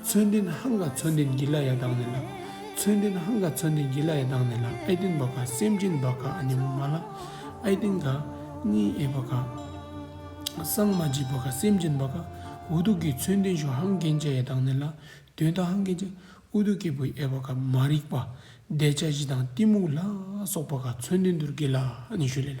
མཚོན་ཏིན་ཧང་ག་མཚོན་ཏིན་གྱི་ལ་ཡ་དང་ནི་ལ། མཚོན་ཏིན་ཧང་ག་མཚོན་ཏིན་གྱི་ལ་ཡ་དང་ནི་ལ་ཨའི་ཏིན་བ་ག་སེམས་ཅན་བ་ག་ཨ་ནི་མ་ལ་ཨའི་ཏིན་ག་གཉིས་ཨའི་བ་ག། སངས་མ་འཇིགས་བ་ག་སེམས་ཅན་བ་ག་འུ་ཐུག་གི་མཚོན་ཏིན་ཞུ་ཧང་གན་ཅ་ཡ་དང་ནི་ལ་དོན་དག་ཧང་གན་ཅ་ཨུ་ཐུག་སྐྱེས་བུ་ཨའི་བ་ག་མ་རིག་པ་བདེ་ཆ་བཞི་དང་གཏི་མུག་ལ་སོགས་བ་ག་མཚོན་ཏིན་དུར་གྱི་ལ་ཨ་ནི་ཞུ་ལེ་ལ།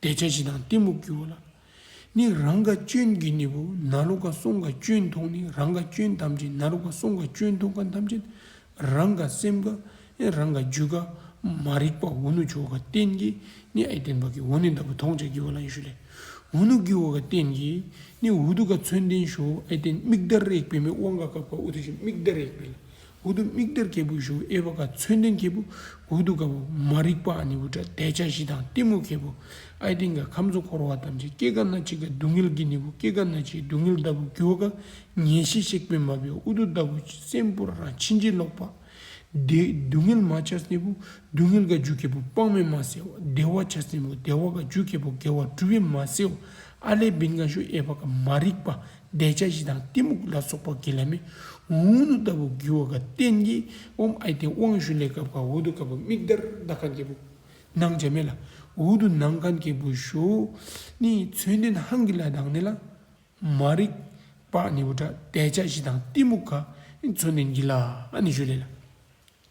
བཟླས་བྱ་བཞི་དང་གཏི་མུག་གི་འོ་ལ་ནི་རང་ག་སྐྱོན་གྱི་ནི་བུ་ན་རོ་ག་སོང་ག་སྐྱོན་ཐོག་ནི་རང་ག་སྐྱོན་ཐམས་ཅད་ན་རོ་ག་སོང་ག་སྐྱོན་ཐོག་ག་ཐམས་ཅད་རང་ག་སེམས་ག་རང་ག་རྒྱུད་ག་མ་རིག་པ་འོ་ནུ་ཆོ་ག་རྟེན་གྱི་ནི་ཨེ་བརྟན་པ་གི་འོ་ནི་འདའ་བུ་ཐོགས་བཅས་ཀྱི་འོ་ལ་ཡེ་ཤུ་ལས་འོ་ནུ་གི་འོ་ག་རྟེན་གྱི་ནི་འུ་དུ་ག་མཚོན་ལྡན་ཞོ་ཨེ་བརྟན་མིག་ཟླ་རེག་པའི་མི་དབང་ག་གབ་ག་འུ་དུ་ཞིག་མིག་ཟླ་རེག་པའི་ལ་འོག་ཏུ་མིག་དར་གྱད་བུ་གཞུ་ཨེ་བ་ཀ་མཚོན་ལྡན་གྱད་བུ་འོག་ཏུ་ག་བུ་མ་རིག་པ་ནི་བུ་ཏྲ་དད་བྱ་བཞི་དང་གཏི་མུག་གྱད་བུ་ཨའི་སྟེང་ག་ཁམས་གཙོ་འཁོར་བ་ཐམས་ཅད་སྐྱེ་རྒ་ན་འཆི་ཀ་སྡུག་བསྔལ་གྱི་ནི་བུ་སྐྱེ་རྒ་ན་འཆིའི་སྡུག་བསྔལ་ལྟ་བུ་རྒྱུ་བ་ཀ་ཉེས་བྱས་གཤེགས་པས་མ་བུའི་ཨུ་ཏུ་ལྟ་བུ་སེམས་དཔའ་རང་ཕྱིན་ཅི་ལོག་པ། བདེ་སྡུག་བསྔལ་མ་བྱ་སེ་བུ་སྡུག་བསྔལ་ཀ་རྒྱུ་གྱད་བུ་དཔག་མེད་མ་སེ་བ་བདེ་བ་བྱ་སེ་བུ་བདེ་བ་ཀ་རྒྱུ་གྱད་བུ་དགེ་བ་བསྒྲུབ་བས་མ་སེ་བ་ཨ་ལས་བི་ང་ཤུ་ཨེ་བ་ཀ་མ་རིག་པ་བཟླས་བྱ་བཞི་དང་གཏི་མུག་ལ་སོགས་པ་དགེ་ལ་མི་འུ་ནུ་ལྟ་བུ་རྒྱུ་བ་ཀ་རྟེན་གྱི་དབང་ཨའི་རྟེན་དབང་ཞུ་ལས་གབ་ཁ་འུ་དུ་གབ་བུ་མིག་དར་མདའ་ཁ་འགྱེད་བུ་ནང་བྱ་མེ་ལ་འུ་དུ་ནང་ཁ་འགྱེད་བུ་ཞུ་ནི་མཚོན་རྟེན་ཧང་གི་ལ་དང་ནི་ལ་མ་རིག་པ་ནི་བུ་དགྲ་བཟླས་བྱ་བཞི་དང་གཏི་མུག་ག་མཚོན་རྟེན་གྱི་ལ་ནི་ཞུ་ལས་ལ།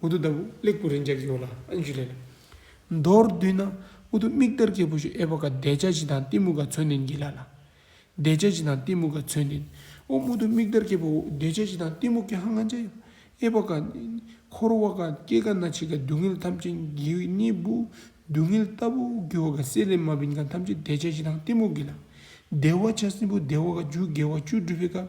འུ་ཐུག་ལྟ་བུ་གླེགས་བུ་རེ་འཇགས་ཀྱི་ཡོད་ལ་ཨན་ཞུ་ལེན། མདོར་བསྡུས་ན་འུ་ཐུག་མིག་དར་སྐྱེས་བུ་ཞིག་ཨེ་བ་ག་བདེ་ཆ་ཞིག་དང་གཏི་མུག་ག་ཚོད་ནས་འགྱིད་ལ་ལ། བདེ་ཆ་ཞིག་དང་གཏི་མུག་ག་ཚོད་ནས། འོ་འུ་ཐུག་མིག་དར་སྐྱེས་བུ་འུ་བདེ་ཆ་ཞིག་དང་གཏི་མུག་གི་ཧ་ང་ཅི། ཨེ་བ་ག། འཁོར་བ་ག་སྐྱེ་ག་ན་ཆིག་ག་སྡུག་བསྔལ་ཐམས་ཅད་འགྱིད་གཉིད་སྦུ་སྡུག་བསྔལ་ལྟ་བུ་འགྱུ་བ་ག་བསྲེ་ལེ་མ་བིན་ག་ཐམས་ཅད་བདེ་ཆ་ཞིག་དང་གཏི་མུག་གི་ལ། བདེ་བ་ཆ་སྲིན་པོ་བདེ་བ་ག་བཅུ་དགེ་བ་བཅུ་སྒྲུབ་པའི་སྐབས།